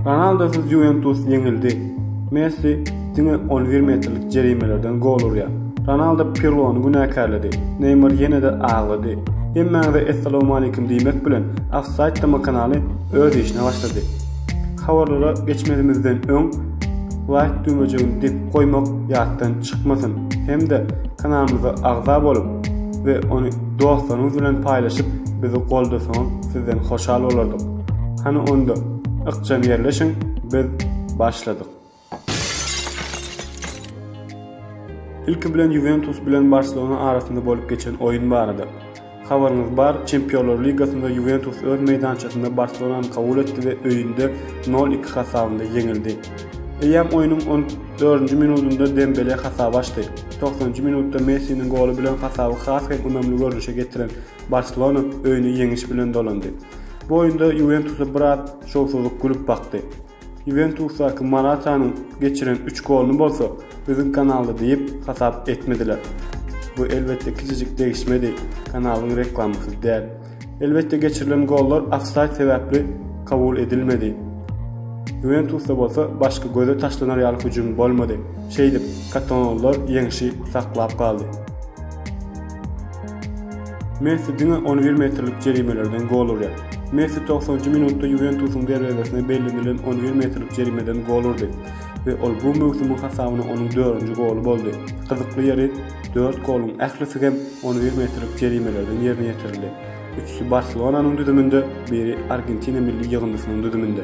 Ronaldosyz Ýuwentus ýeňildi. Messi diňe on bir metrlik jerimelerden gol urýar. Ronaldo Pirlony günäkärledi. Neýmar ýene-de aglady. Hemmäňize essalowmalikim diýmek bilen, Ofsaýd TM-kanaly öz işine başlady. Habarlara geçmezimizden öň, laýk düwmejigini depip goýmak ýatdan çykmasyn hem-de kanalymyza agza bolup we ony dostlaryňyz bilen paýlaşyp bizi goldasaňyz sizden hoşal bolardyk. Hany onda ykjam ýerleşiň biz başladyk. Ilki bilen Juventus bilen Barcelona arasynda bolup geçen oýun barada. Habaryňyz bar, Çempionlar ligasynda Juventus öz meýdançasynda Barcelonany kabul etdi we öýünde 0-2 hasabynda ýeňildi. Eýýäm oýnuň 14-nji minudynda Dembele hasaby açdy. Togsanynjy minutda Messiniň goly bilen hasaby has hem ynamly görnüşe getiren Barselona öýüne ýeňiş bilen dolandy. Bu oýunda Ýuwentusa biraz şowsuzlyk gülüp bakdy. Ýuwentusdaky Moratanyň geçiren üç goluny bolsa üzüň kanalda diýip hasap etmediler. Bu elbetde kiçijik degişmedi, kanalyň reklamasy däl. Elbetde geçirilen gollar ofsaýd sebäpli kabul edilmedi. Ýuwentusda bolsa başga göze taşlanar ýaly hüjüm bolmady. Şeýdip, katalonlar ýeňşi saklap galdy. Messi diňe on bir metrlik jerimelerden gol urýar. Messi togsanynjy minutda Ýuwentusyň derwezesine bellenilen on bir metrlik jerimeden gol urdy we ol bu möwsümiň hasabyna onuň dördünji goly boldy. Gyzykly ýeri, dört goluň ählisi hem on bir metrlik jerimelerden ýerine ýetirildi. Üçüsi Barselonanyň düzüminde, biri Argentina milli ýygyndysynyň düzüminde.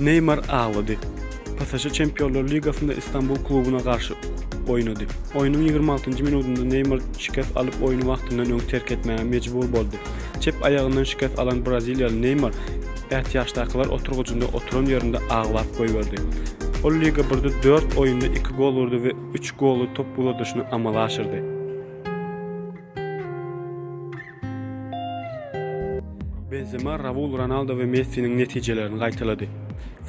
Neýmar aglady. PSŽ Çempionlar ligasynda Istanbul klubuna garşy oýnady. Oýnuň ýigrimi altynjy minudynda Neýmar şikes alyp oýny wagtyndan öň terk etmäge mejbur boldy. Çep aýagyndan şikes alan braziliýaly Neýmar ätiýaçdakylar oturgyjynda oturan ýerinde aglap goýberdi. Ol Liga birde dört oýunda iki gol urdy we üç goly top uladyşyny amala aşyrdy. Benzema Raul Ronaldo we Messiniň netijelerini gaýtalady.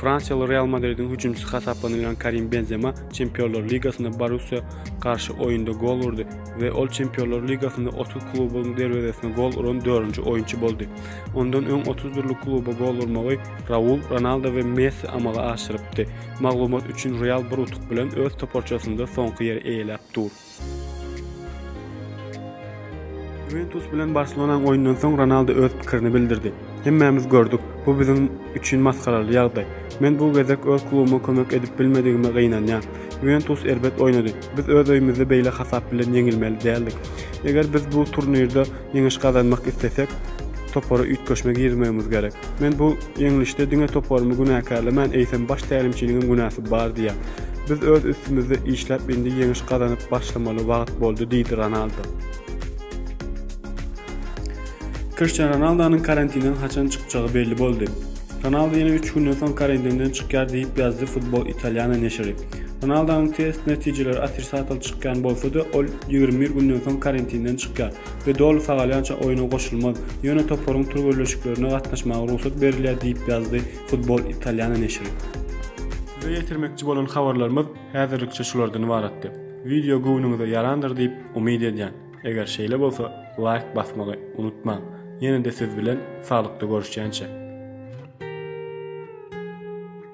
Fransiýaly Real Madridiň hüjümçisi hasaplanylýan Karim Benzema Çempionlar ligasynda Borussiýa garşy oýunda gol urdy we ol Çempionlar ligasynda otuz klubuň derwezesine gol uran dördünji oýunçy boldy. Ondan öň otuz dürli kluba gol urmagy Raul, Ronaldo we Messi amala aşyrypdy. Maglumat üçin, Real bir utuk bilen öz toparçasynda soňky ýeri eýeläp dur. Ýuwentus bilen Barselonaň oýnundan soň Ronaldu öz pikirini bildirdi. Hemmämiz gördük, bu biziň üçin masgaraly ýagdaý. Men bu gezek öz klubyma kömek edip bilmedigime gynanýan. Ýuwentus erbet oýnady. Biz öz öýümizde beýle hasap bilen ýeňilmeli däldik. Eger biz bu turnirde Ýeňiş gazanmak islesek, topara üýtgeşme girizmegimiz gerek. Men bu ýeňlişde diňe toparymy günäkärlemän, eýsem baş tälimçiniňem günäsi bar diýýän. Biz öz üstümizde işläp indi ýeňiş gazanyp başlamaly wagt boldy diýdi Ronaldo. Kriştian Ronaldonyň karantinden haçan çykjagy belli boldy. Ronaldo ýene üç günden soň karantinden çykýar diýip ýazdy Football Italiano neşiri. Ronaldonyň test netijeleri otrisatel çykýan bolsa-da, ol ýigrimi bir günden soň karantinden çykýar we doly sagalýança oýna goşulmaz, ýöne toparyň türgenleşiklerine gatnaşmaga rugsat berilýär diýip ýazdy Football Italia neşiri. Size ýetirmekçi bolan habarlarymyz häzirlikçe şulardan ybaratdy. Wideo göwnüňize ýarandyr diýip umyt edýän. Eger şeýle bolsa, laýk basmagy unutmaň. Ýene-de siz bilen saglykda görüşýänçä.